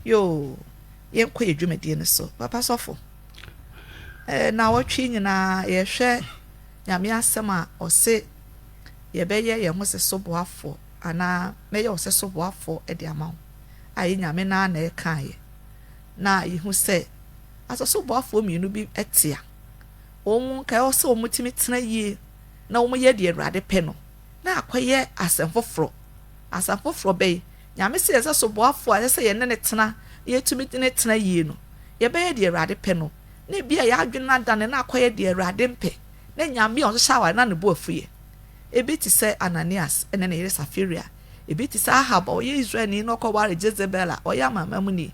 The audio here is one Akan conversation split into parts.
yoo yɛnkɔ yɛ dwumadie no so papa sɔfo eh, na wɔtwe nyinaa yɛhwɛ nyame asɛm a ɔse yɛbɛyɛ yɛn ho sɛ soboafoɔ anaa mɛyɛ wo sɛ soboafoɔ de ama wo a yɛ nyame naa na ɛkaeɛ Na yehu sɛ asɔsoboafoɔ mmienu bi te a, wɔn nkae wɔ sɛ wɔtumi tena yie na wɔyɛ deɛ Awurade pɛ no, na akɔyɛ asɛm foforɔ. Asɛm foforɔ bɛn? Nyame sɛ yɛn sɛ soboafoɔ a ɛsɛ sɛ yɛne no tena na yɛtumi ne no tena yie no, yɛbɛyɛ deɛ Awurade pɛ no. Na ebia yɛn adwene no adane na akɔyɛ deɛ Awurade mpɛ, na Nyame a ɔhyehyɛ aware no na ne bo afuiɛ. Ebi te sɛ Ananias ne ne yere Safiria. Ebi te sɛ Ahab a ɔyɛ Israelni na ɔkɔwaree Jezebel a ɔyɛ Amanamanmuni.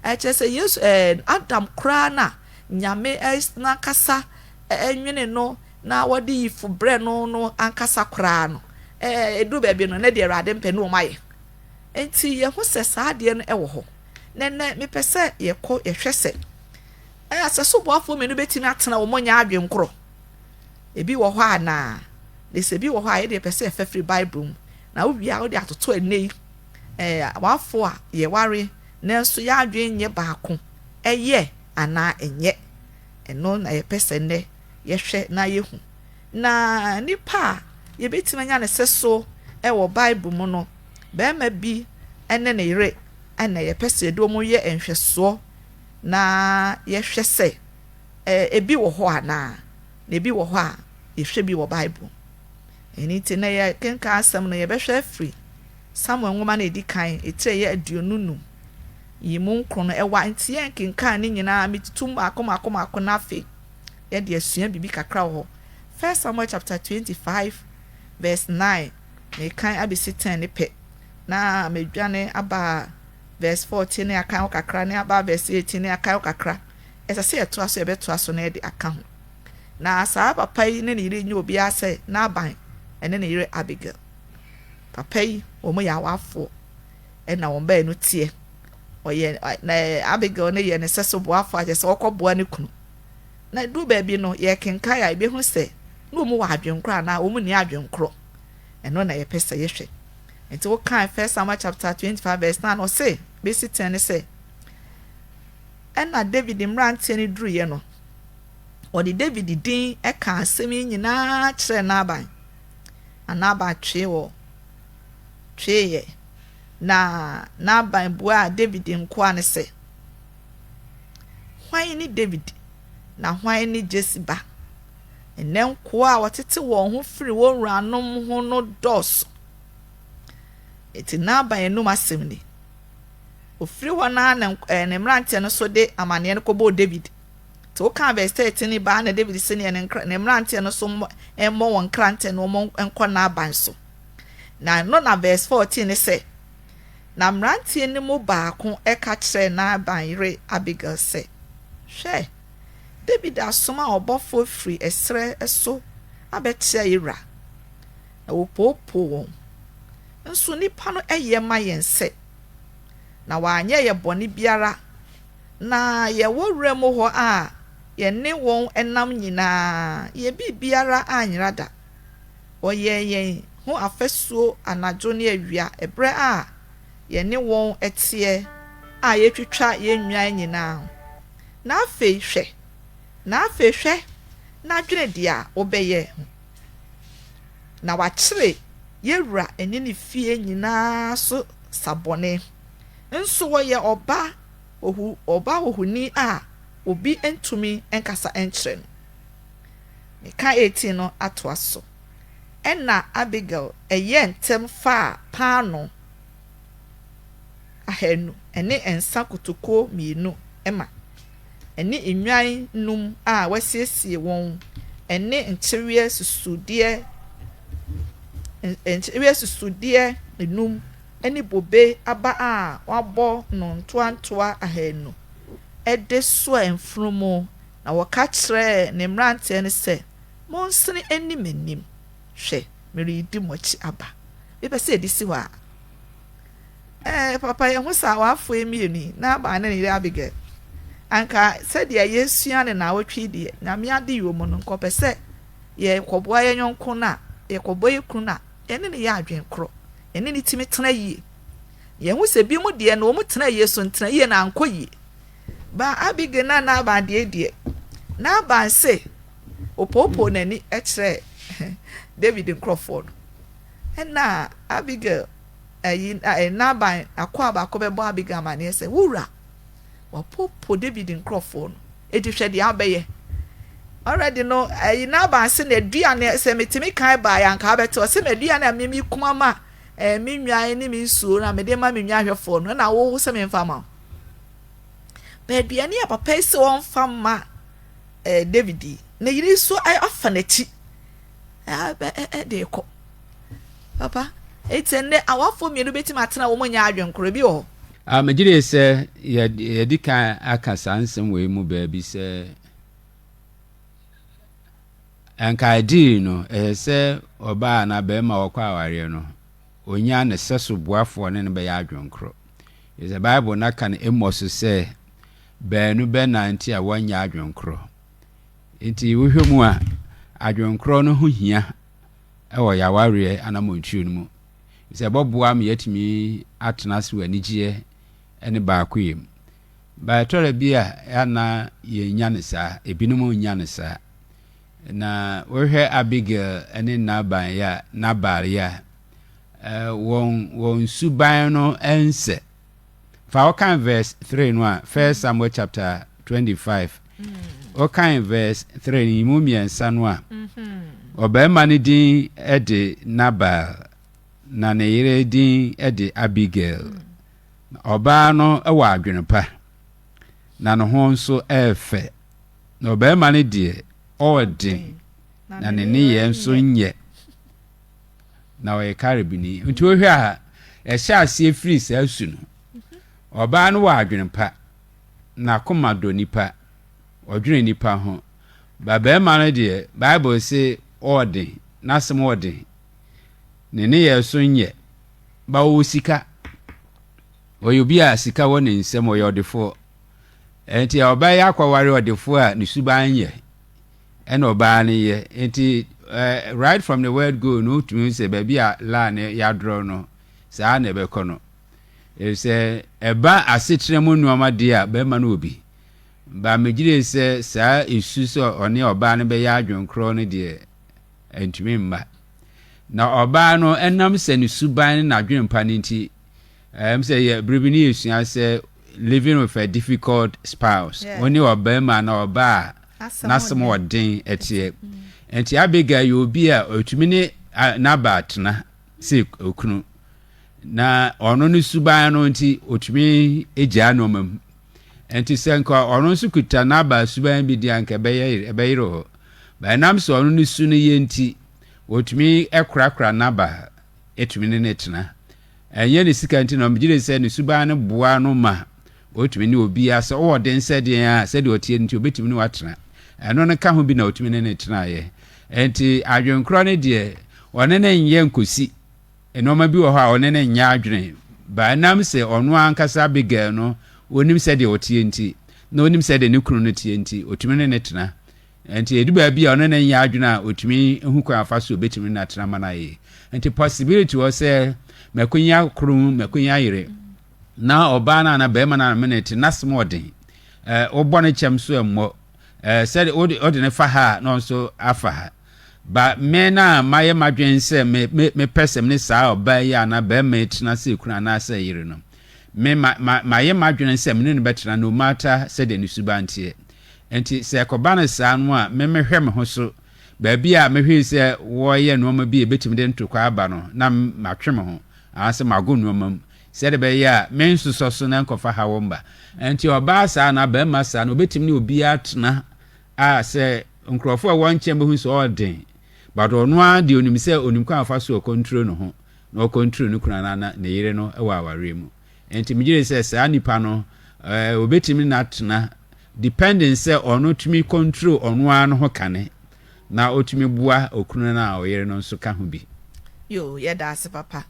Ɛkyerɛ sɛ Yesu, ɛɛ, Adam koraa na Nyame n'ankasa nwenee no na ɔde yifo brɛɛ no no ankasa koraa no, ɛɛ, eduu baabi no, na deɛ Awurade mpɛ no wɔayɛ. Enti yɛhu sɛ saa adeɛ no wɔ hɔ. Na nnɛ mepɛ sɛ yɛkɔ yɛhwɛ sɛ, ɛɛ, sɛ soboafoɔ mmienu bɛtumi atena wɔn nyɛ adwene korɔ. Ebi wɔ hɔ a na na sɛ ebi wɔ hɔ a yɛde yɛpɛ sɛ yɛfa firi Bible mu na wowie a wode atoto ɛnnɛ yi ɛɛ awarefo a yɛware nanso yɛn adwene nyɛ baako ɛyɛ anaa ɛnyɛ ɛno na yɛpɛ sɛ nnɛ yɛhwɛ na yɛhu na nipa a yɛbɛtumi anya ne sɛ so ɛwɔ Bible mu no bɛrima bi ɛne ne yere ɛna yɛpɛ sɛ yɛde wɔn yɛ nhwɛsoɔ na yɛhwɛ sɛ Ebi wɔ hɔ anaa? Na ebi wɔ hɔ a, yɛhwɛ bi wɔ Bible mu. Ɛno nti, nnɛ yɛrekenkan asɛm no, yɛbɛhwɛ afiri Samuel nwoma no a ɛdi kan, etire a ɛyɛ aduonu nnum yi mu nkron no. Ɛwɔ a nti yɛrenkenkan ne nyinaa, metutu mu mmaako mmaako mmaako na afei yɛde asua biribi kakra wɔ hɔ. First Samuel chapter twenty five verse nine, merekan abɛsi ten ne pɛ, na madwane aba verse fourteen ne akan hɔ kakra, ne aba verse eighteen ne akan hɔ kakra. ɛsɛ sɛ yɛtoa so a, yɛbɛtoa so na yɛde aka ho. Ná saa papa yi ne ne yere nyɛ obiara sɛ Nabal ne ne yere Abigail. Papa yi, wɔyɛ awafoɔ. Ɛna wɔn baanu teɛ. Ɔyɛ, na Abigail no yɛ ne sɛso boafoɔ a kyerɛ sɛ ɔkɔboa ne kunu. Na ɛduru baabi no, yɛkenkan a, yɛbɛhu sɛ na wɔn wɔ adwenkorɔ anaa wɔn nni adwenkorɔ. Ɛno na yɛpɛ sɛ yɛhwɛ. Nti wokan First Samuel chapter 25 verse 9 no, ɔse, bɛsi tɛn ne sɛ, Ɛnna Dawid mmeranteɛ no duruiɛ no, wɔde Dawid din kaa asɛm yi nyinaa kyerɛɛ Nabal, na Nabal twee wɔ tweeɛ. Na Nabal buaa Dawid nkoa no sɛ, Hwan ne Dawid, na hwan ne Jesse ba? Ɛnnɛ nkoa a wɔtete wɔn ho firi wɔn wuranom ho no dɔɔso. Enti Nabal anom asɛm ni. Ɔfiri hɔ no ara na ne mmeranteɛ no nso de amanneɛ no kɔbɔɔ Dawid. Nti wokaa vɛs 13 yi baa na Dawid se neɛ ne mmeranteɛ no nso mmɔ wɔn nkrantɛ na wɔn nkɔ Nabal so. Na ɛno na vɛs 14 ne sɛ, Na mmeranteɛ no mu baako ka kyerɛɛ Nabal yere Abigail sɛ, Hwɛ, Dawid asoma ɔbɔfoɔ firi ɛserɛ so abɛkyea yɛn wura. Na wɔpoopoo wɔn. Nso nnipa no yɛ ma yɛn sɛ, na wɔanyɛ yɛn bɔne biara, na yɛwɔ wuram hɔ a yɛne wɔn nam nyinaa, yɛn biribiara anyera da. Wɔyɛɛ yɛn ho afasuo anadwo ne awia ɛberɛ a yɛne wɔn teɛ a yɛretwitwa yɛn nnwan nyinaa. Na afei hwɛ, na afei hwɛ, na dwene deɛ a wobɛyɛ ho. na wɔakyere yɛn wura ne ne fie nyinaa so sa bɔne. Nso ɔyɛ ɔba ohu, ɔba ohuni a obi ntumi nkasa nkyerɛ no. Mika 18 no atoa so, Ɛnna Abigail yɛɛ ntɛm faa paanoo ahanu ne nsã kotokuo mmienu ma. ne nnwan nnum a wɔasiesie wɔn ne nkyeweɛ susudeɛ nkyeweɛ susudeɛ nnum ne bobe aba a wɔabɔ no ntoantoa ahanu de soaa mfunumu, na wɔka kyerɛɛ ne mmeranteɛ no sɛ, Monsene nni m'anim, hwɛ, meredi mo akyi aba. Mepɛ sɛ yɛde si hɔ ara. Ɛɛ, papa, yehu saa awafoe mmienu yi, Nabal ne ne yere Abigail. Anka sɛdeɛ yɛresua no nnawɔtwe yi deɛ, Nyame adeyɛ wɔ mu no, anka ɔpɛ sɛ yɛkɔboa yɛn yɔnko no a, yɛkɔboa yɛn kunu no a, yɛne no yɛ adwene korɔ, yɛne no tumi tena yie. Yɛhu sɛ binom deɛ no, wɔn tena yie so ntena yie na ankɔ yie. Ba Abigail na Nabal deɛ deɛ, Nabal se, opoopoo n'ani kyerɛɛ David nkurɔfoɔ no, ɛna Abigail Eyi na ɛyɛ Nabal akoa baako bɛbɔɔ Abigail amanneɛ sɛ, Wo wura, wɔapopo Dawid nkurɔfoɔ no. Enti hwɛ deɛ abɛyɛ. Already no, eyi Nabal se na dua no, sɛ metumi kan baeɛ a, anka abɛte. Ɔse na dua no a me me kuma ma eh, me nnwan ne me nsuo no a mede ma me nnwanhwɛfoɔ no, ɛna wo se memfa mma wo. Ba aduane a papa yi se ɔmfa mma eh, Dawid yi, ne yere yi so afa n'akyi eh, de rekɔ. Papa, eti ɛnɛ awafo mmienu betumi atena wɔn nyɛ adwenkoro, ebi wɔ hɔ? Ah, megye di sɛ yɛadi kan aka saa nsɛm wei mu baabi sɛ anka adiri no ɛyɛ sɛ ɔbaa anaa barima wɔkɔ awareɛ no onya ne sɛso boafoɔ ne no bɛyɛ adwenkoro. Ɛsɛ Bible no aka no mmɔ so sɛ baanu bɛnante a wɔnyɛ adwenkoro. Nti wohwɛ mu a adwenkoro no ho hia wɔ yɛn awareɛ anammɔntuo no mu, ɛfiri sɛ ɛbɛboa ma yɛatumi atena ase wɔ anigyeɛ ne baakoyɛ mu. Ba ɛtɔrɛ bi a ɛana yɛnya no saa, ebinom nnya no saa. Na wohwɛ Abigail ne Nabal yɛ a, Nabal yɛ a, wɔn, wɔn suban no ɛnsɛ. Fa wokan verse three no a, First Samuel chapter twenty five. Wokan verse three no mu mmiɛnsa no a, ɔbarima no din de Nabal, na ne yere din de Abigail. Ɔbaa no wɔ adwene pa, na ne ho nso yɛ fɛ. Na ɔbarima no deɛ, ɔɔden, na ne nneyɛɛ nso nyɛ. na ɔyɛ Caribni. Nti wohwɛ a, ɛhyɛ aseɛ firi saa su no. Ɔbaa no wɔ adwene pa, n'akoma dɔ nipa, ɔdwene nipa ho. Ba barima no deɛ, Bible se ɔɔden, n'asɛm ɔɔden, ne nneyɛɛ so nyɛ. Ba ɔwɔ sika, ɔyɛ obi a sika wɔ ne nsam, ɔyɛ ɔdefoɔ. Ɛnti ɔbaa yi akɔware ɔdefoɔ a ne suban nyɛ, ɛna ɔbaa no yɛ nti ɛɛ right from the word go no wotumi hu sɛ baabi a line no yɛadorɔ no saa na ɛbɛkɔ no efisɛ ɛba asetena mu nneɛma deɛ a bɛrima no wɔ bi ba megyere sɛ saa esu sɛ ɔne ɔbaa no bɛyɛ adwenkorɔ no deɛ ɛntumi mma na ɔbaa no ɛnam sɛ ne suban ne n'adwempa no nti Ɛwom sɛ yɛ bere bi ne yesua sɛ living with a difficult spouse, wo ne ɔbarima na ɔbaa a n'asɛm wɔ den ɛteɛ. Nti Abigail yɛ obi a ɔtumi ne Nabal tena sɛ okunu. Na ɔno ne suban no nti ɔtumi gyaa nneɛma mu. Nti sɛ nka ɔno nso kuta Nabal suban bi di a nka ɛbɛyere hɔ. Ɛnam sɛ ɔno ne su no yɛ nti, ɔtumi korakora Nabal. tumi ne no tena. Ɛnyɛ ne sika nti na ɔmegye di sɛ ne suban no boa no ma ɔtumi ne obiara, sɛ ɔwɔ den sɛ den a, sɛdeɛ ɔteɛ no nti ɔbɛtumi ne wo atena. Ɛno no ka ho bi na ɔtumi ne no tenaeɛ. Enti adwenkorɔ no deɛ, ɔne no nyɛ nkɔsi. Nnoɔma bi wɔ hɔ a ɔne no nyɛ adwene. But ɛnam sɛ ɔno ankasa Abigail no, ɔnim sɛdeɛ ɔteɛ nti, na ɔnim sɛdeɛ ne kunu no teɛ nti, ɔtumi ne no tena. Enti edu baabi a ɔno ne nyɛ adwene a otumi hu kwan afa so obetumi na tena ma no ayɛ yie. Nti possibility wɔ sɛ makonya koro mu, makonya yere. Na ɔbaa no ana barima no ana me ne te n'asem wɔ den. Eh, wobɔ no kyɛm so ɛmmɔ. Eh, sɛ wode wode ne fa ha a na ɔno nso afa ha. Ba me na mayɛ m'adwene sɛ me me mepɛ sɛ me ne saa ɔbaa yi ana barima yi tena sɛ kunu anaasɛ yere no. Me ma ma mayɛ m'adwene sɛ me ne no bɛtena no matter sɛdeɛ ne suban teɛ. Enti sɛ ɛkɔba no saa no a, me mehwɛ me ho so. Baabi a mehwee sɛ wɔreyɛ nnoɔma bi a ɛbɛtumi de ntorokwae aba no, na matwe me ho, anaasɛ mago nnoɔma mu, sɛdeɛ ɛbɛyɛ a mensosɔ so na ɛnkɔfa haw mma. Enti ɔbaa saa anaa barima saa no, ɔbɛtumi ne obiara atena a sɛ nkorɔfoɔ a ɛwɔ nkyɛn bɛhu sɛ ɔyɛ den, but ɔno ara deɛ ɔnim sɛ ɔnim kwan a ɔfa so a ɔkɔntro ne ho, na ɔkɔntro ne kunu anaa ne yere no wɔ awareɛ mu. Nti megye di sɛ saa nipa no eh, obetumi na atena depending sɛ ɔno tumi control ɔno ara no ho kane na otumi boa okunu no a ɔyere no nso ka ho bi. Yoo, yɛda ase papa.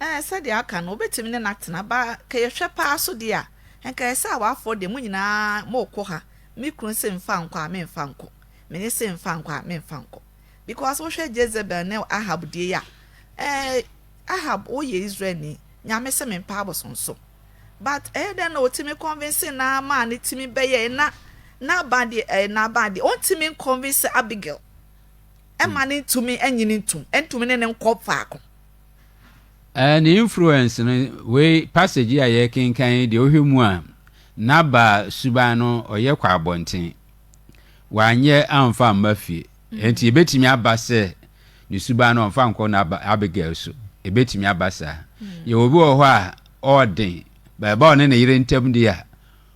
Eh, sɛdeɛ aka no, obetumi ne no atena, ba ka yɛhwɛ paa nso deɛ a, nka ɛyɛ sɛ awafoɔ deɛ mo nyinaa moko ha, me kunu se mfa nkɔ a, memfa nkɔ, mene se mfa nkɔ a, memfa nkɔ. Because wohwɛ Jezebel ne Ahab deɛ yi a, eh, Ahab wo yɛ Israel ni nyame se me mpa abosom so but ɛyɛ dɛn na otimi convince naa maa ne timi bɛyɛɛ na Nabal deɛ ɛɛ Nabal deɛ ontimi nconvince Abigail ɛma no ntumi ɛnyini ntum ɛntumi ne no nkɔ faako. Ɛɛ ne influence no wei passage yi a yɛkenkan yi deɛ wohwɛ mu a Nabal suban no ɔyɛ kɔ abɔnten wanyɛ amfa amma fie ɛnti ebetumi aba sɛ ne suban no ɔmfa nkɔ na Abigail so. Ebetumi aba saa. Yɛwɔ obi wɔ hɔ a ɔwɔ den, ba ɛba ɔne ne yere ntam di a,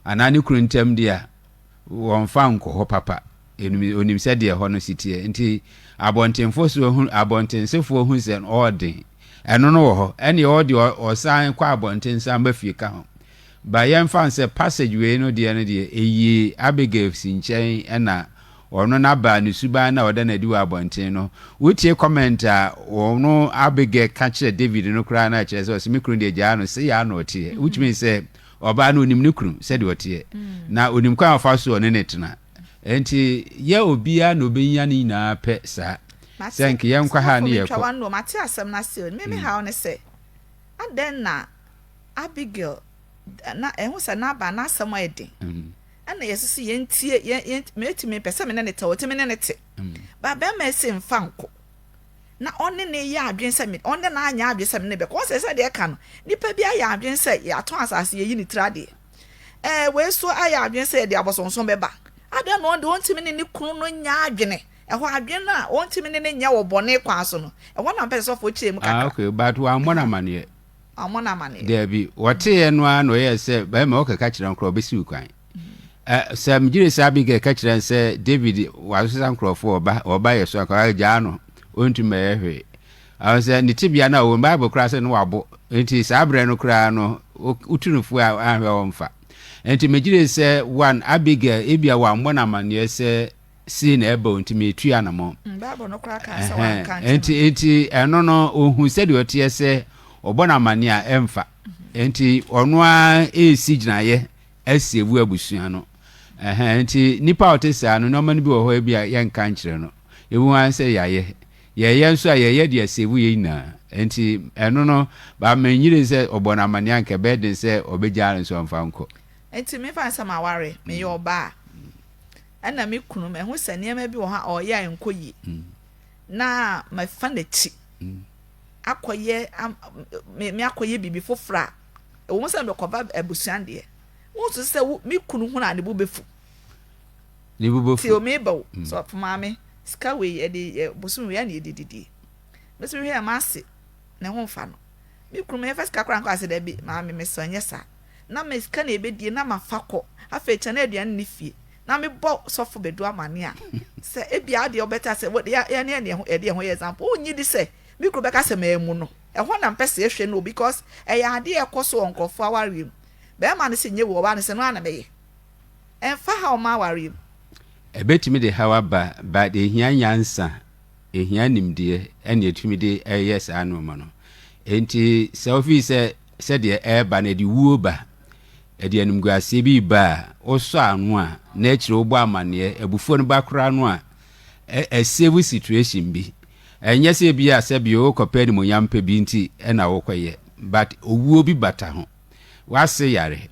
anaa ne kunu ntam di a, wɔmfa nkɔ hɔ papa. Onim sɛ deɛ hɔ no si teɛ. Nti abɔntenfo so hu, abɔntensefoɔ hu sɛ ɔwɔ den. Ɛno no wɔ hɔ. Ɛne ɔwɔ deɛ ɔsan kɔ abɔnten san ba fie ka ho. Ba yɛmfa sɛ passage wei no deɛ no deɛ, ɛyii Abigail si nkyɛn ɛna Ɔno na baa ne suban na ɔda no adi wɔ abɔnten no. Wotie comment a ɔno Abigail ka kyerɛ David no koraa na kyerɛ sɛ ɔse me kunu deɛ gyaa no sei ara na ɔteɛ. Which means sɛ ɔbaa no onim ne kunu sɛdeɛ ɔteɛ. Na onim kwan a ɔfa so ɔne ne tena. Ɛnti yɛ obiara na ɔbɛnya ne nyinaa pɛ saa. Sɛ nka yɛ nkɔ ha ne yɛ kɔ. Mate asɛm no ase o. Me me haw ne sɛ adɛn na Abigail na ɛho sɛ Nabal n'asɛm ayɛ den. Ɛna yɛse se yɛn tie yɛn yɛn meti me pɛ sɛ me ne ne tɛ ɔte me ne ne te ba bɛma ɛse nfa nko na ɔne ne yɛ adwene sɛ me ɔne na anyɛ adwene sɛ me ne bɛkɔ ɔsɛ sɛ deɛ ɛka no nipa bi ayɛ adwene sɛ yɛatɔn asase yɛyi ne tiri adeɛ ɛɛ wei so ayɛ adwene sɛ yɛde abɔsonson bɛba adan na ɔde ɔntumi ne ne kunu no nyɛ adwene ɛhɔ adwene no a ɔntumi ne ne nyɛ wɔ bɔne kwan so no ɛhɔ na mpɛ sɛ sɔfoɔ kyerɛ mu kakra. Ah, okay, but wɔammɔ no amaneɛ. ɔmo no amaneɛ. Daabi, wɔteeɛ no ara na ɔyɛɛ sɛ, Bɛrima, wokɛka kyerɛ nkorɔfoɔ, wɔbɛsi wo kwan. Ɛ, sɛ megye di sɛ Abigail ka kyerɛɛ no sɛ, David, wɔasesa nkorɔfoɔ, wɔba, wɔba yɛ so anka, gyaa no, ɔntu mmɛyɛ hwee. Ɔho sɛ, ne tebea no a ɔwɔ mu, Bible koraa sɛ ne wabo, enti saa berɛ no koraa no, wo, wotu no fo a, anhwɛ a ɔmfa. Enti megye di sɛ, one, Abigail, ebia wammɔ no amaneɛ sɛ sei na ɛba o nti meretu anamɔ nti nti ɛno no ɔhu sɛdeɛ ɔteɛ sɛ ɔbɔ no amane a ɛmfa nti ɔno a ɛresi gyinaeɛ asi abu abusua no nti nipa a ɔte saa no nneɛma no bi wɔ hɔ bi a yɛnka nkyerɛ no ewu ara sɛ yɛayɛ yɛyɛ nso a yɛyɛ deɛ sɛbu yɛ nyinaa nti ɛno no baama nyire sɛ ɔbɔ no amane anka ɛbɛyɛ den sɛ ɔbɛgya no nso ɔmfa nkɔ nti mefa nsɛm aware meyɛ ɔbaa Ɛna me kunu, mahu sɛ nneɛma bi wɔ hɔ a ɔreyɛ a ɛnkɔ yie, na mafa n'akyi akɔyɛ me akɔyɛ biribi foforɔ a ɛwɔ mu sɛ mebɛkɔba abusua deɛ wonsusu sɛ me kunu hunu a ne bo bɛfu ne bo bɛfu ti omi ba o mm. sɛ ɔfo maame sika wei yɛde bosom wei a na yɛde didie mɛsɛ hwɛ a maase ne ho mfa no me kunu mɛfa sika koraa nkɔ ase dɛ bi maame mesɔ nyɛ saa na me sika na yɛbɛdie na mafa kɔ, afei kyɛ na aduane nni fie, na mebɔ sɔfo Badu amanneɛ a, sɛ ebia adeɛ wobɛka sɛ yɛne yɛne yɛho yɛde yɛho yɛ example, wonnye di sɛ me kuro bɛka sɛ mammu no? Ɛhɔ na mpɛ sɛ yɛhwɛ no o, because ɛyɛ adeɛ a ɛkɔ so wɔ nkurɔfoɔ awareɛ mu. Barima no sɛ nyɛ wei, ɔbaa no sɛ ɛno ara na mɛyɛ. Ɛmfa haw mma awareɛ mu. Ɛbɛtumi de haw aba, but ɛhia nyansa, ɛhia nimdeɛ ɛna ɛtumi de yɛ saa nnoɔma no. Enti sɛ wofii sɛ Sɛdeɛ ɛreba no, ɛde wuo ba. Ɛde animguaseɛ bi reba a, wosɔ ano a, na akyire wobɔ amaneɛ. Abufuo no ba koraa no a, ɛ, ɛsave situation bi. Ɛnyɛ sɛ ebia sɛbio wokɔpɛ animuonyam pɛ bi nti na wokɔyɛ, but owuo bi bata ho. W'ase yare.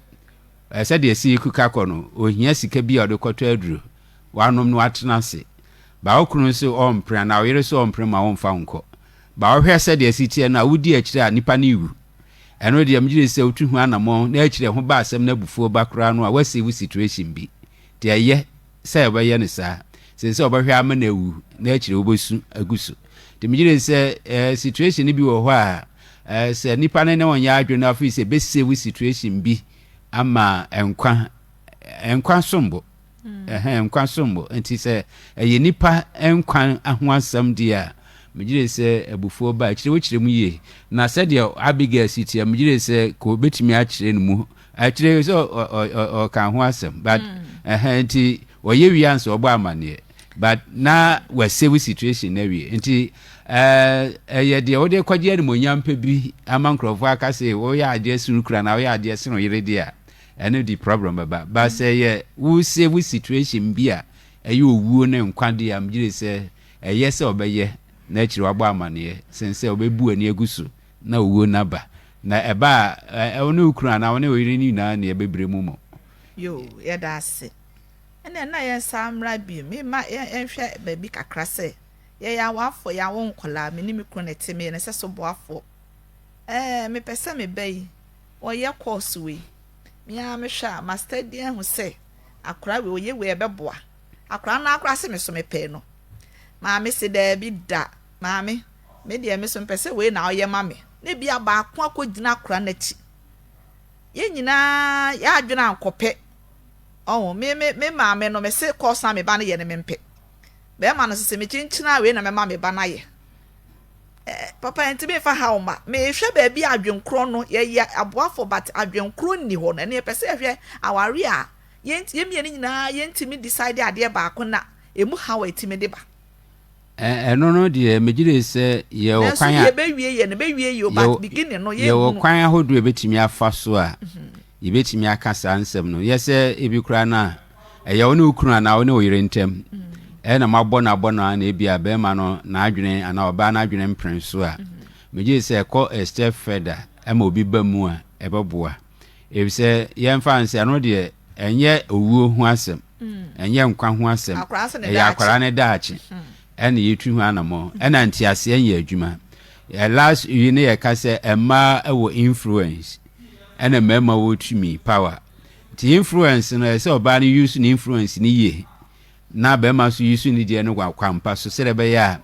Ɛ, sɛdeɛ Seek ka kɔ no, ohia sika bi a ɔde kɔtɔ aduro. Wanom na watena ase. But wo kunu nso ɔrempere anaa wo yere nso ɔrempere ma womfa wo nkɔ. Ba wohwɛ sɛdeɛ asi teɛ no a, wodi akyire a nipa no rewu. Ɛno deɛ megye di sɛ wotu ho anamɔn na akyire ho ba asɛm na abufuo ba koraa no a woasi wo situation bi. Nti ɛyɛ sɛ wobɛyɛ no saa. Sen sɛ wobɛhwɛ ama no awu na akyire wobɛsu agu so. Nti megye di sɛ ɛɛ situation no bi wɔ hɔ a ɛɛ sɛ nipa no ne wo nyɛ adwene na afei sɛ ɛbɛsie wo situation bi ama nkwa. Nkwa som bo. Ɛhɛn, nkwa som bo. Ntsi sɛ ɛyɛ nyimpa nkwa ho asɛm dze a, megye dzi sɛ abufuo ba a, ɛkyerɛ wokyerɛ mu yie. Na sɛdeɛ Abigail si teɛ, megye dzi sɛ ka obetumi akyerɛ ne mu, akyerɛ sɛ ɔ- ɔ- ɔ- ɔ- ɔka ho asɛm. But ɛhɛn nti ɔyɛ wie ansa ɔbɔ amanneɛ. But na wasave situation no awie. Nti eh, ɛyɛ deɛ wode kɔgye animuonyam pɛ bi ama nkurɔfoɔ aka sɛ woyɛ adeɛ soro kura na woyɛ adeɛ sene wo yere deɛ a, Ɛno de problem bɛba but sɛ yɛ wo sɛ wo situation bi a ɛyɛ owuo ne nkwa deɛ a megyere sɛ ɛyɛ sɛ ɔbɛyɛ na akyire wabɔ amaneɛ sen sɛ ɔbɛbu w'ani agu so na owuo no aba na ɛba a ɛ wo ne wo kunu anaa wo ne wo yere no nyinaa ne ɛbɛbire mo mo. Yoo yɛda ase ɛneɛ na yɛn saa mmra bi me ma yɛ yɛn hwɛ baabi kakra sɛ yɛ yɛ awafoɔ yɛ awo nkɔlaa me ne me kunu na ɛte me yɛ ne sɛ so boafoɔ ɛɛ me pɛ sɛ me ba yi Wɔyɛ course wei me ara me hwɛ a ma study ahu sɛ akora wei ɔyɛ wei ɛbɛboa akora no akora se me so me pɛɛ no maame se daabi da maame me deɛ me so mpɛ sɛ wei na ɔyɛ ma me ne bia baako akɔ gyina akora no akyi yɛ nyinaa yɛ adwene ankɔpɛ ɔho me me me maame no me se course a me ba no yɛ no me mpɛ bɛrima no sese me kyenkyina wei na mɛma me ba no ayɛ Papa nti me nfa haw ma. Me hwɛ baabi a adwen korɔ no yɛ yɛ aboafo but adwen korɔ nni hɔ no ɛno yɛ pɛ sɛ yɛ hwɛ aware a yɛn yɛn mmienu nyinaa yɛn ntumi decide adeɛ baako na ɛmu haw a ɛtumi de ba. Ɛno no deɛ me gyina yi sɛ yɛ wɔ kwan a. Nanso yɛ bɛ wie yɛ no bɛ wie yɛ o but beginning no yɛ. Yɛ wɔ kwan ahodoɔ yɛ bɛtumi afa so a yɛ bɛtumi aka saa nsɛm no yɛ sɛ ebi koraa no a Ɛyɛ wo ne wo kunu anaa wo ne wo yere ntam. Ɛyɛ na moabɔ no abɔ no a na ebia barima no n'adwene anaa ɔbaa n'adwene mpene so a, megye di sɛ ɛkɔ a step further ma obi ba mu a, ɛbɛboa. Efisɛ yɛmfa no sɛ ɛno deɛ ɛnyɛ owuo ho asɛm, ɛnyɛ nkwa ho asɛm, ɛyɛ akwadaa no daakye ɛna yɛtu ho anammɔn. Ɛna nteaseɛ nyɛ adwuma. Ɛ last yi ne yɛka sɛ mmaa wɔ influence ɛna mmarima wɔ tumi, power. Nti influence no ɛsɛ ɔbaa no use ne influence no yie na bɛrima nso use ne deɛ no wɔ akwampa so sɛdeɛ ɛbɛyɛ a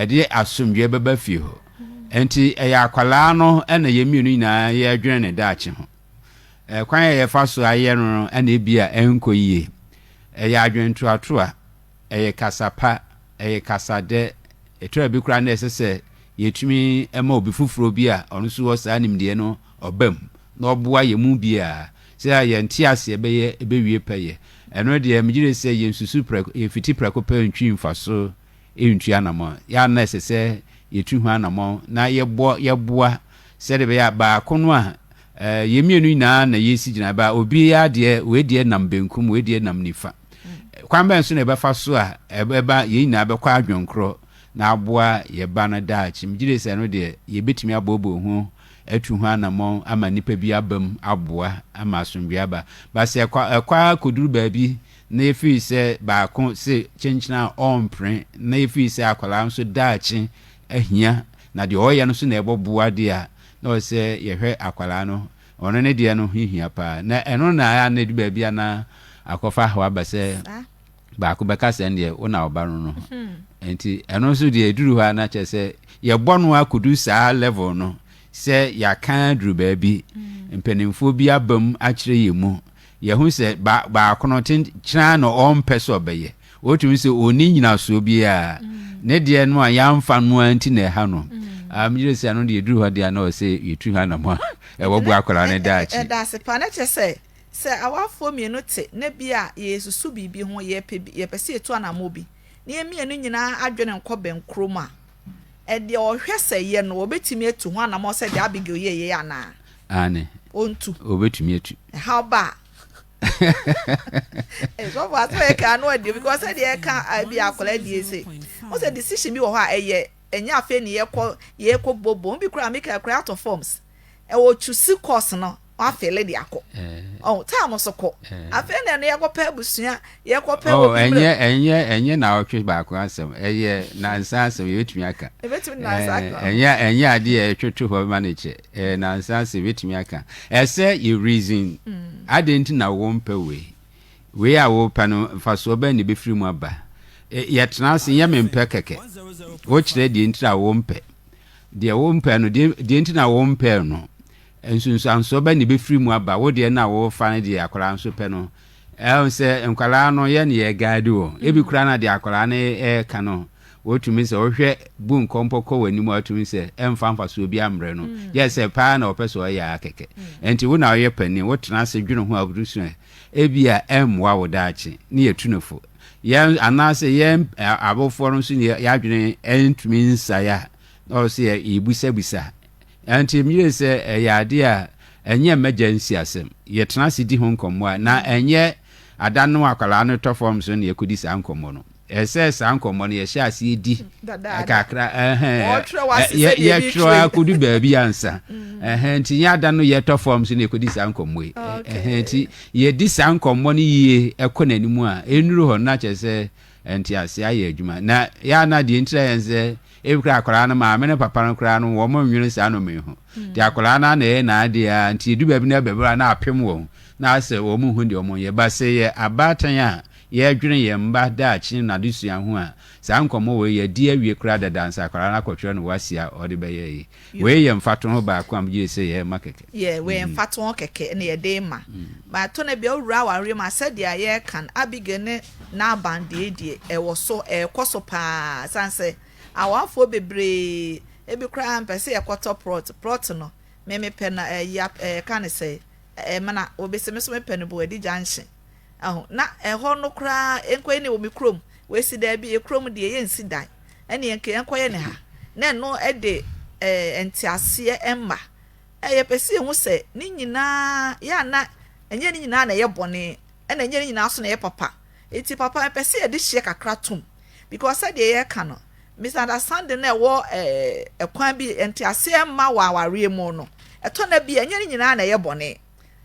ɛde asomdwoeɛ bɛba fie hɔ. Nti ɛyɛ akwadaa no ɛna yɛn mmienu nyinaa yɛdwene ne daakye ho. Ɛkwan a yɛfa so ayɛ no no ɛna ebi a ɛnkɔ yie. Ɛyɛ adwentoatoa, ɛyɛ kasa pa, ɛyɛ kasa dɛ, ɛtɔ da bi koraa na ɛsɛ sɛ yɛtumi ma obi foforɔ bi a ɔno nso wɔ saa nimdeɛ no ɔba mu na ɔboa yɛn mu biara sɛdeɛ yɛn nteaseɛ bɛyɛ bɛwie pɛyɛ. Ɛno deɛ megye di sɛ yɛnsusu prɛko, yɛnfiti prɛko pɛ ntwi mfaso ntu anamɔn. Yɛn ara na ɛsɛ sɛ yɛtu ho anamɔn na yɛbɔ, yɛboa sɛdeɛ ɛbɛyɛ a baako no a yɛn mmienu nyinaa na yɛresi gyinaeɛ ba a, obiara deɛ, wei deɛ nam benkum, wei deɛ nam nifa. Kwan bɛn so na ɛbɛfa so a ɛbɛba yɛn nyinaa bɛkɔ adwenkorɔ na aboa yɛn ba no daakye? Megye di sɛ ɛno deɛ yɛbɛtumi aboaboa ho atu ho anammɔn ama nnipa bi abam aboa ama asomdwoe aba. But sɛ ɛkɔ ɛkɔ ara kɔduru baabi na ɛfiri sɛ baako se kyenkyene a ɔrempene na ɛfiri sɛ akwadaa nso daakye ahia na deɛ ɔreyɛ no nso na ɛbɔ boa deɛ a, na ɔsɛ sɛ yɛhwɛ akwadaa no. Ɔno ne deɛ no ho hia pa ara. Na ɛno na ɛyɛ a na ɛdu baabi a na akɔfa haw aba sɛ. baako bɛka sɛ ɛndeɛ wo na ɔba no no ho nti ɛno nso deɛ ɛduru hɔ a na kyerɛ sɛ yɛbɔ no akɔdu saa level no sɛ yɛaka aduru baabi mm. mpanimfoɔ bi aba mu akyerɛ yɛ mu yɛho sɛ baako no kyerɛ na ɔmpɛ sɛ ɔbɛyɛ wɔtumi sɛ ɔni nyinasoɔ biara mm. ne deɛ no a yɛamfa no a nti na ɛha no mm. Ah, meyere sɛ ano deɛ ɛduru hɔ deɛ na ɔsɛ yɛtu ha nam a ɛwɔ boa akwadaa no daakye ɛda ase pa na kyerɛ sɛ Sɛ awafoɔ mmienu te na bi a yɛresusu biribi ho, yɛrepɛ bi, yɛpɛ sɛ yɛtu anammɔn bi, na yɛn mmienu nyinaa adwene nkɔ bɛnkorɔ mu a, ɛdeɛ ɔhwɛ sɛ yɛ no, ɔbɛtumi atu ho anammɔn sɛ deɛ Abigail yɛeɛ yi anaa? Aane. Ɔntu. Ɔbɛtumi atu. Ɛhaw ba a. Sɔfo asɛm a yɛka ano adeɛ because sɛdeɛ yɛka bi akwadaa die se, wo sɛ decision bi wɔ hɔ a ɛyɛ ɛnyɛ afei ne yɛkɔ yɛkɔ bobom bi koraa meka koraa out of forms. ɛwɔ chusi course no wafele de akɔ ɔn time so kɔ afei na ɛno yɛkɔpɛ abusua yɛkɔpɛ oh, obi ɛnyɛ ɛnyɛ ɛnyɛ na ɔtwe baako asɛm ɛyɛ nansa asɛm yɛbɛtumi aka ɛbɛtumi nansa aka ɛnyɛ ɛnyɛ adeɛ a ɛtwetwe hɔ ma ne kyɛ ɛyɛ nansa asɛm yɛbɛtumi aka ɛsɛ yɛ reason mm. adeɛ nti na wɔmpɛ wei wei a wɔpɛ no mfasoɔ bɛn ne bɛfiri mu aba yɛtena ase nyɛ mempɛ kɛkɛ wokyerɛ deɛ nti a wɔmpɛ Deɛ wompɛ no, deɛ deɛ nti na wompɛɛ no? Nsunsuansoɔ bɛn na ɛbɛfiri mu aba? Wo deɛ no a worefa no deɛ akwadaa nso pɛ no, ɛho sɛ nkwadaa no yɛn na yɛreguide wɔn. Ebi koraa na deɛ akwadaa no reka no, wotumi sɛ wohwɛ bu nkɔmpɔ kɔ w'anim a, wotumi sɛ ɛmfa mfasoɔ biara mmrɛ no. Gye sɛ paa na ɔpɛ sɛ ɔyɛ ara kɛkɛ. Ɛnti wo na woyɛ panin, wotena ase dwene ho a wobɛsua. Ebia ɛremmoa wo daakye, na yɛtu no fo. Yɛn, anaasɛ yɛn awofoɔ no nso yɛn adwene ntumi nsae a, na ɔwɔ sɛ yɛbisabisa. Ɛnti meyere sɛ ɛyɛ adeɛ a ɛnyɛ mmɛgya nsi asɛm. Yɛtena ase di ho nkɔmmɔ a, na ɛnyɛ ada no akwadaa no tɔ fam so na yɛkɔdi saa nkɔmmɔ no. Ɛsɛ sɛ saa nkɔmmɔ no yɛhyɛ aseɛ di kakra yɛtwerɛ a kɔdu baabi ansa mm. nti nyɛ ada no yɛtɔ fam so na yɛkɔdi saa nkɔmmɔ yi nti yɛdi saa nkɔmmɔ no yie ɛkɔ n'anim a ɛnuru hɔ no akyɛ sɛ ɛnti aseɛ ayɛ adwuma na yɛa no adeɛ ntira yɛn sɛ ebi kora akwaraa no maame ne papa no koraa no wɔn nwene saa nnome ho mm. nti akwaraa no ana ɛyɛ n'adeɛ a nti ɛdu baabi no ɛbɛbɛra na apem wɔn na asɛ wɔn ho deɛ wɔn yɛ ba sɛ yɛ abaatan a Yɛredwene yɛn mma daakye ne n'adesua ho a, saa nkɔmmɔ wei yɛadi awie koraa dada ansa akwadaa no akɔtwerɛ no wasi a ɔde bɛyɛ ayi. Wei yɛ mfatoho baako a megye di sɛ yɛrema kɛkɛ. Yeah, wei yɛ mfatoho kɛkɛ na yɛde rema. But tɔ no bi a wowura awareɛ mu a, sɛdeɛ yɛreka no, Abigail ne Nabal deɛ deɛ, ɛwɔ so, ɛrekɔ so pa ara. Ɛsiane sɛ awarefoɔ bebree, ebi koraa mpɛ sɛ yɛkɔtɔ plot. Plot no, me mepɛ no, ɛyi a, yɛka no sɛ, Ɛmena. Obi se, me nso mepɛ no, Boadi Junction. Aho, na ɛhɔ no koraa ɛnkɔyɛ ne wɔ me kurom, wɔasi daabi, yɛ kurom deɛ yɛnsi dan, ɛneɛ nka yɛnkɔyɛ ne ha, na ɛno de eh, nteaseɛ ɛmma. Eh, yɛpɛ sɛ yɛhu sɛ ne nyinaa, yɛ a na ɛnyɛ ne nyinaa na ɛyɛ bɔne, ɛna ɛnyɛ ne nyinaa so na ɛyɛ papa. Eti papa, ɛpɛ sɛ yɛde hyeɛ kakra tom, because sɛdeɛ yɛka no, misunderstanding na ɛwɔ eh, ɛkwan bi, nteaseɛ ɛmma wɔ awareɛ mu no, ɛtɔ na bi ɛnyɛ ne nyinaa na ɛyɛ bɔne.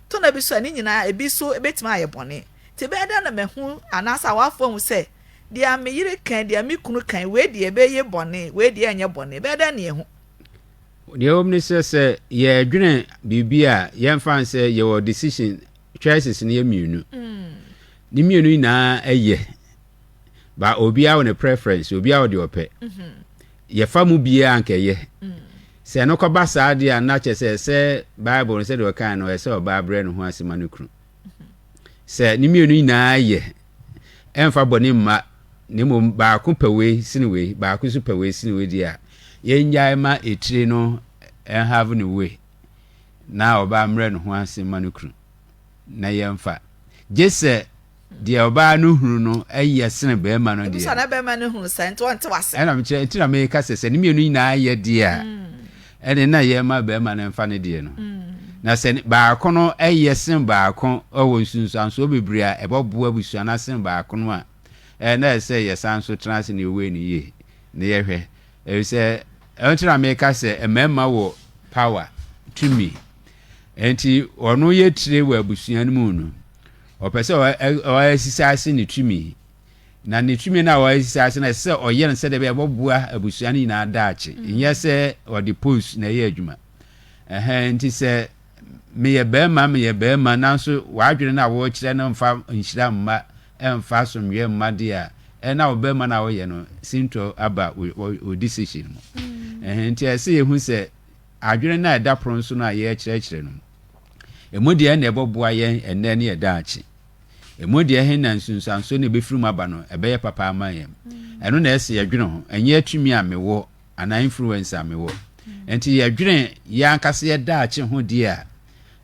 To nna bi so a, ne nyinaa ebi so betumi ayɛ bɔne. Nti ɛbɛyɛ dɛn na mahu anaasɛ awafo ahu sɛ, deɛ me yere kae, deɛ me kunu kae, wei deɛ ɛbɛyɛ bɔne, wei deɛ ɛrenyɛ bɔne? Ɛbɛyɛ dɛn na yɛahu? Deɛ ɛwɔ mu ne sɛ, sɛ yɛredwene biribi a, yɛmfa no sɛ yɛwɔ decision, choices no yɛ mmienu. Ne mmienu nyinaa yɛ. ba obiara wɔ ne preference obiara wɔ deɛ ɔpɛ mm-hmm. yɛfa mu biara anka ɛyɛ mm. sɛ no kɔba saa deɛ a na kyɛ sɛ sɛ bible no sɛdeɛ ɔkae no ɛsɛ ɔbaa brɛ ne ho ase ma no kunu mm-hmm. sɛ ne mmienu nyinaa yɛ ɛmfa bɔne mma na mmom baako pɛ wei sene wei baako nso pɛ wei sene wei deɛ a yɛngyae ma etire no ɛnhave ne wei na ɔbaa mmerɛ ne ho ase ma no kunu na yɛmfa. Gye sɛ deɛ ɔbaa no hunu no yɛ sene barima no deɛ. Ebisa na barima no hunu saa nti ɔnte wase. Ɛna mekyerɛ nti na meka sɛ sɛ ne mmienu nyinaa yɛ deɛ a ɛne na yɛma barima no mfa ne deɛ no. Na sɛ baako no yɛ sene baako wɔ nsunsuansoɔ bebree a ɛbɛboa abusua no asene baako no a, ɛɛ na ɛsɛ yɛsan so tena ase na yɛwei no yie na yɛhwɛ. Efisɛ ɛno nti na meka sɛ mmarima wɔ power, tumi. Enti ɔno yɛ tire wɔ abusua no mu no. Ɔpɛ sɛ ɔsisi ase ne tumi. Na ne tumi no a ɔsisi ase no, ɛsɛ sɛ ɔyɛ no sɛdeɛ ɛbɛyɛ ɛbɛboa abusua no nyinaa daakye. Nyɛ sɛ ɔde post na ɛyɛ adwuma. Ɛhɛn, enti sɛ meyɛ barima meyɛ barima nanso w'adwene no a wokyerɛ no mfa nhyira mma, ɛmfa asomdwoeɛ mma deɛ a, ɛnna wo barima no a woyɛ no sintɔ aba wo decision mu. Ɛhɛn, enti ɛsɛ sɛ yɛhu sɛ adwene no a ɛda pono so no a yɛrekyerɛkyerɛ no mu. Emu deɛn na ɛbɛboa yɛn ɛnnɛ ne yɛn daakye? Emu deɛ ɛhe na nsunsuansoɔ na ɛbɛfiri mu aba no ɛbɛyɛ papa ama yɛn? Ɛno na ɛsɛ yɛdwene ho, ɛnyɛ tumi a mewɔ anaa influence a mewɔ. Nti yɛdwene yɛn ankasa yɛn daakye ho deɛ a,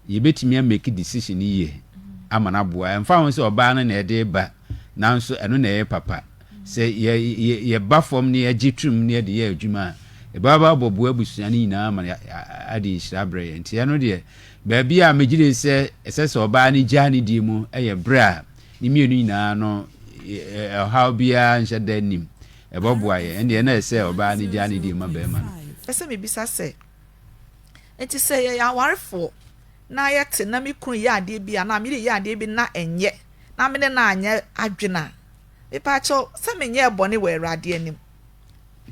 yɛbɛtumi a make decision yie ama no aboa ɛmfa ho sɛ ɔbaa no na ɛde ba nanso ɛno na ɛyɛ papa sɛ yɛ yɛ yɛba fam ne yɛgye tom ne yɛde yɛ adwuma a ɛbɛba abɔboa abusua no nyinaa ma ade nhyira berɛ yɛ nti ɛno deɛ baabi a megyere sɛ ɛsɛ sɛ ɔbaa no gyaa ne die mu ɛyɛ berɛ a ne mmienu nyinaa no ɔhaw biara nhyɛ da nim ɛbɔboa yɛ ɛndeɛ na ɛsɛ ɔbaa no gyaa ne die ma bɛrima no ɛsɛ mebisa sɛ Enti sɛ yɛyɛ awarefoɔ na yɛte na me kunu yɛ adeɛ bi anaa me yɛ adeɛ bi na ɛnyɛ na me ne no anyɛ adwene a, mepaakyɛw sɛ menyɛɛ bɔne wɔ Awurade anim?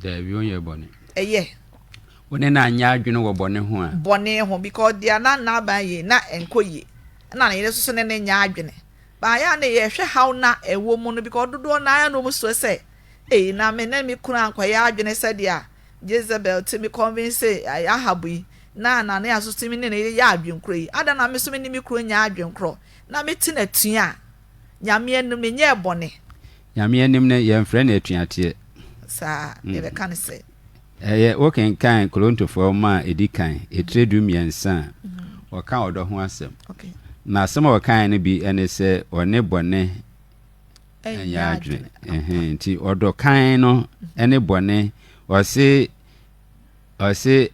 Daabi, wonyɛɛ bɔne. Ɛyɛ. Wo ne no anyɛ adwene wɔ bɔne ho a? Bɔne ho, because deɛ na Nabal yɛ na ɛnkɔ yie, ɛna ne yere nso so ne no nyɛ adwene. But ayɛ a na yɛhwɛ haw na ɛwɔ mu no because dodoɔ no ara na wɔn suro sɛ, ei na me ne me kunu ankɔyɛ adwene sɛdeɛ a Jezebel tumi convincee Ahab yi na Anania nso tumi ne no yɛ adwene korɔ yi, adɛn na me nso me ne me kunu nyɛ adwene korɔ na me te no atua a, Nyame anim me nyɛɛ bɔne? Nyame anim no yɛ mfrɛ no atuateɛ. Saa, yɛ bɛ ka no sɛ. Ɛyɛ, wo kenkan Korontofoɔ nwoma a ɛdi kan, etire du mmiɛnsa a, ɔka ɔdɔ ho asɛm. Na asɛm a ɔkaeɛ no bi ne sɛ ɔne bɔne. ɛnyɛ adwene. Nti ɔdɔ kan no ne bɔne. Ɔse ɔse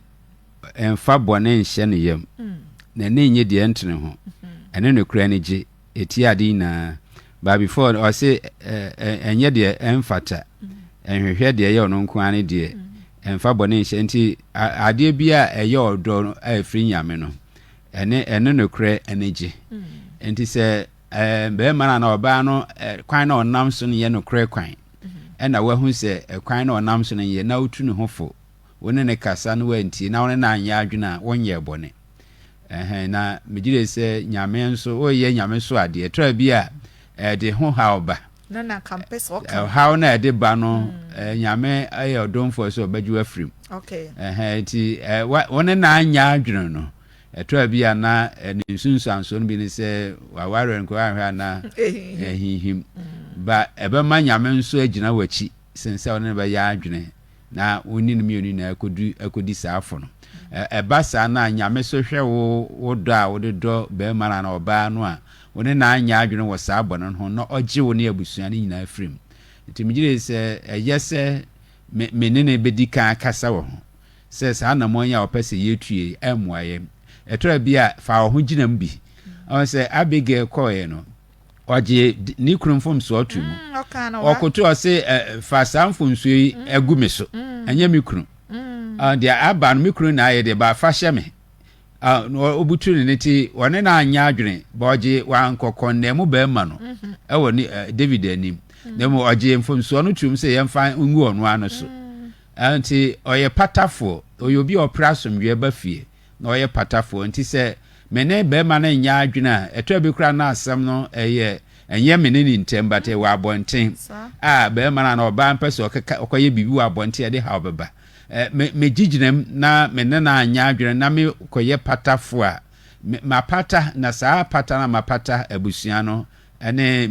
ɛmfa bɔne nhyɛ ne yam. Mm. Na ne nye deɛ ɛntene ho. Mm-hmm. Ɛne no kura ne gye. Ɛti ade nyinaa. But before ɔse ɛnyɛ deɛ ɛmfata. Mm. Ɛnhwehwɛ deɛ ɛyɛ ɔno nko ara ne deɛ. Mm. Ɛmfa bɔne nhyɛ. Nti adeɛ bi a ɛyɛ ɔdɔ a ɛfiri nyame no. Ɛne ɛne no kura ne gye. Mm. Nti sɛ Barima no anaa ɔbaa no kwan na ɔnam so no yɛ nokorɛ kwan, ɛna wahu sɛ kwan na ɔnam so no yɛ, na wotu ne ho fo, wo ne no kasa na wantie, na wo ne no anyɛ adwene a, wonyɛɛ bɔne. Ɛhɛn, na megye de sɛ Nyame nso, woyɛ Nyame so adeɛ. Tra bi a, ɛde ho haw ba. Na na nka mpɛ sɛ ɔka. Haw na ɛde ba no, mm. Nyame yɛ ɔdomfoɔ sɛ ɔbɛgye wafiri mu. Okay. Ɛhɛn, nti wo ne no anyɛ adwene no, Ɛtɔ a bi a na ne nsunsuansoɔ no bi ne sɛ waware nkoa ahwɛ a na ɛhinhim. Ba ɛbɛma Nyame nso agyina w'akyi sen sɛ ɔne no bɛyɛ adwene na wo ne no mmienu nyinaa akɔdu akɔdi saa afo no. Ɛba saa no a Nyame so hwɛ wo wo dɔ a wode dɔ barima no anaa ɔbaa no a wo ne no anyɛ adwene wɔ saa bɔne no ho na ɔgye wo ne abusua no nyinaa firi mu. Nti megye die sɛ ɛyɛ sɛ me ne no bɛdi kan akasa wɔ ho. sɛ saa anammɔn yi a wɔpɛ sɛ yetu yi remmoa yɛn. Ɛtɔra bi a, fa wo ho gyinam bi. Ɔn sɛ Abigail kɔeɛ no, ɔgyee ne kunu mfomsoɔ too mu. Ɔkoto ɔse, Fa saa mfomsoɔ yi gu me so, ɛnyɛ me kunu. Ɔn deɛ aba no, me kunu na ayɛ deɛ, ba fa hyɛ me. Ɔn ɔbutu ne ne ti, ɔne no anyɛ adwene, ba ɔgye wankɔ kɔndɛn mu barima no wɔ David anim, na mmom ɔgyee mfomsoɔ no toom sɛ yɛmfa ngu ɔno ara no so. Nti ɔyɛ patafoɔ, ɔyɛ obi a ɔpere asomdwoeɛ ba fie na ɔyɛ patafoɔ. Nti sɛ me ne barima no nyɛ adwene a, ɛtɔ bi koraa na asɛm no yɛ, ɛnyɛ me ne ne ntam but ɛwɔ abɔnten a barima no anaa ɔbaa no pɛ sɛ ɔkɔyɛ biribi wɔ abɔnten a ɛde haw bɛba. Megye gyinam na me ne no anyɛ adwene na mekɔyɛ patafoɔ a, mapata na saa apata no a mapata abusua no ne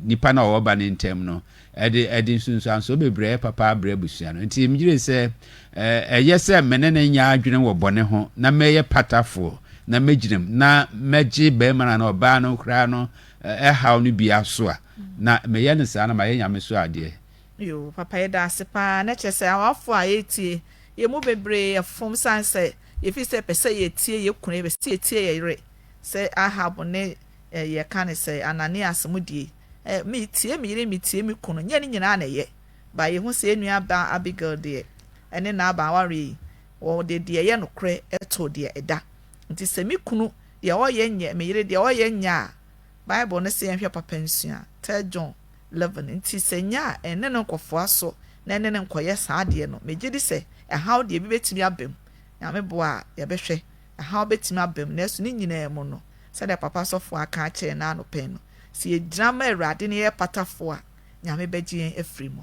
nipa no a ɔwɔ ba no ntam no, ɛde ɛde nsunsuansoɔ bebree papa abrɛ abusua no. Nti megyere sɛ ɛyɛ sɛ me ne no nyɛ adwene wɔ bɔne ho na mɛyɛ patafoɔ na mɛgyina mu na mɛgye barima no anaa ɔbaa no koraa no ɛhaw no bi aso a, na meyɛ no saa na mayɛ Nyame so adeɛ. Yoo papa yɛda ase paa na kyerɛ sɛ awafoɔ a yɛretie yɛn mu bebree yɛ fom sane sɛ yɛfiri sɛ yɛpɛ sɛ yɛtie yɛn kunu yɛpɛ sɛ yɛtie yɛn yere sɛ Ahab ne eh, yɛka ne sɛ Ananias mo die, eh, me tie me yere me tie me kunu, nyɛ ne nyinaa na ɛyɛ, ba yɛhu sɛ yɛn nua baa Abigail deɛ ɛne Nabal awareɛ yi, wɔde deɛ ɛyɛ nokorɛ ɛtoo deɛ ɛda, nti sɛ me kunu deɛ ɔyɛ nyɛ, me yere deɛ ɔyɛ nyɛ a, Bible no sɛ yɛnhwɛ papa nsua, Third John 11, nti sɛ nyɛ a ɛne no nkɔfoa so na ɛne no nkɔyɛ saa adeɛ no, megye di sɛ ɛhaw deɛ ebi bɛtumi aba mu, Nyame boa a yɛbɛhwɛ Ɛhaw betumi aba mu, nanso ne nyinaa mu no, sɛnea papa sɔfo aka akyerɛ yɛn naano pɛn no, sɛ yegyina ma Awurade na yɛyɛ patafo a, Nyame bɛgye yɛn afiri mu.